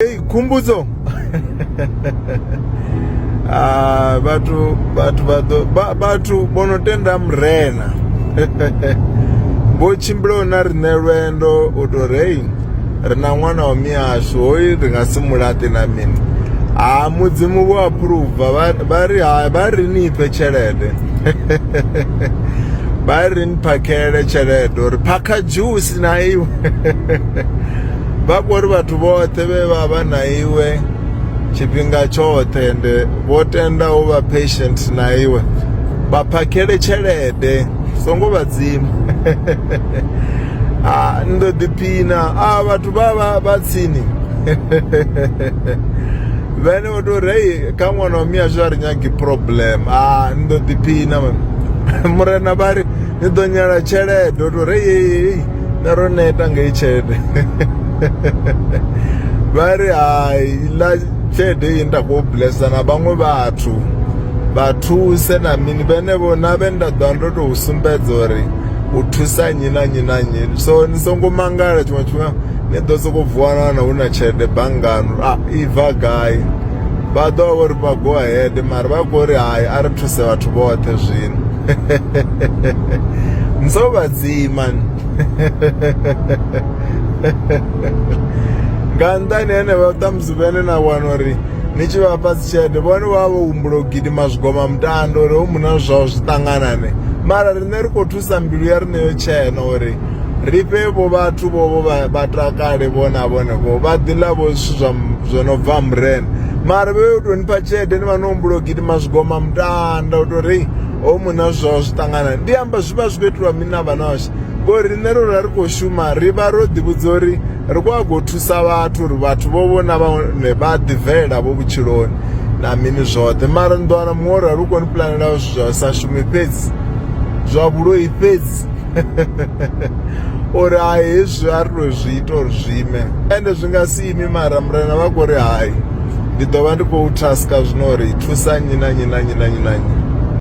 Hey, khumbudzo ah, vhathu vhathu vhaḓo vhathu vho no tenda murena vho tshimbila na riṋe lwendo u to rei ri na ṅwana wa mihashu hoyu ri nga si mulaṱi na mini ha ah, mudzimu vho aphuruva vha ri ha vha ri ni pfe tshelede vha ri ni phakhele tshelede uri phakha dzhusi na iwe vha kho ri vhathu vhoṱhe vhe vha vha na iwe tshifhinga tshoṱhe ende vho tenda u vha patient na iwe vha phakhele tshelede songo vha dzima a ndo ḓiphina a vhathu vha vha vha tsini vhene vho to ri hei kha ṅwana wa mihashu a ri nyagi problem a ndo ḓiphina murena vha ri ni ḓo nyala tshelede o to ri hei na ro neta ngei tshelede vha ri hai ḽa tshelede iyi nda khou blesa na vhaṅwe vhathu vha thuse na mini vhenevho na vhe nda ḓo ndo tou sumbedza uri u thusa nnyi na nnyi na nnyi so ni songo mangala tshiṅwe tshifhinga ni ḓo sokou vuwana na hu na tshelede banngani a ah, i bva gai vha ḓo vha vho ri vha go ahead mara vha khou ri hai a ri thuse vhathu vhoṱhe zwino so vhathihi mani nga nnḓani henevha ṱhamusi vhene na wana uri ni tshi vha fhasi tshelede vhone vha vho humbula u gidima zwigoma mutando uri ho muna zwao zwi ṱanganane mara riṋe ri khou thusa mbilu ya riṋe yo tshena uri ri fhe vho vhathu vho vho vha- vha takale vho na vhone vho vha ḓi ḽa vho zwithu zwa m- zwo no bva murena mara vhe yo tou nipha tshelede ni vha no humbula u gidima zwigoma mutanda u tou ri ho muna zwi zwaho zwi ṱangana ndi amba zwi vha zwi khou itelwa mini na vhanoshe ngori riṋe ro ra ri khou shuma ri vha ro ḓivhudza uri ri khou a khou thusa vhathu uri vhathu vho vho na vhone vha ḓibvelela vho vhutshiloni na mini zwoṱhe mara ni ḓo wana muṅwe uri a lu koni pulanela zwithu zwa sa shumi fhedzi zwa vhuloi fhedzi uri hai hezwi a ri to zwi ita uri zwi ime ende zwi nga si imi mara murena vha khou ri hai ndi ḓo vha ndi khou taska zwino uri thusa nnyi na nnyi na nnyi na nnyi na nnyi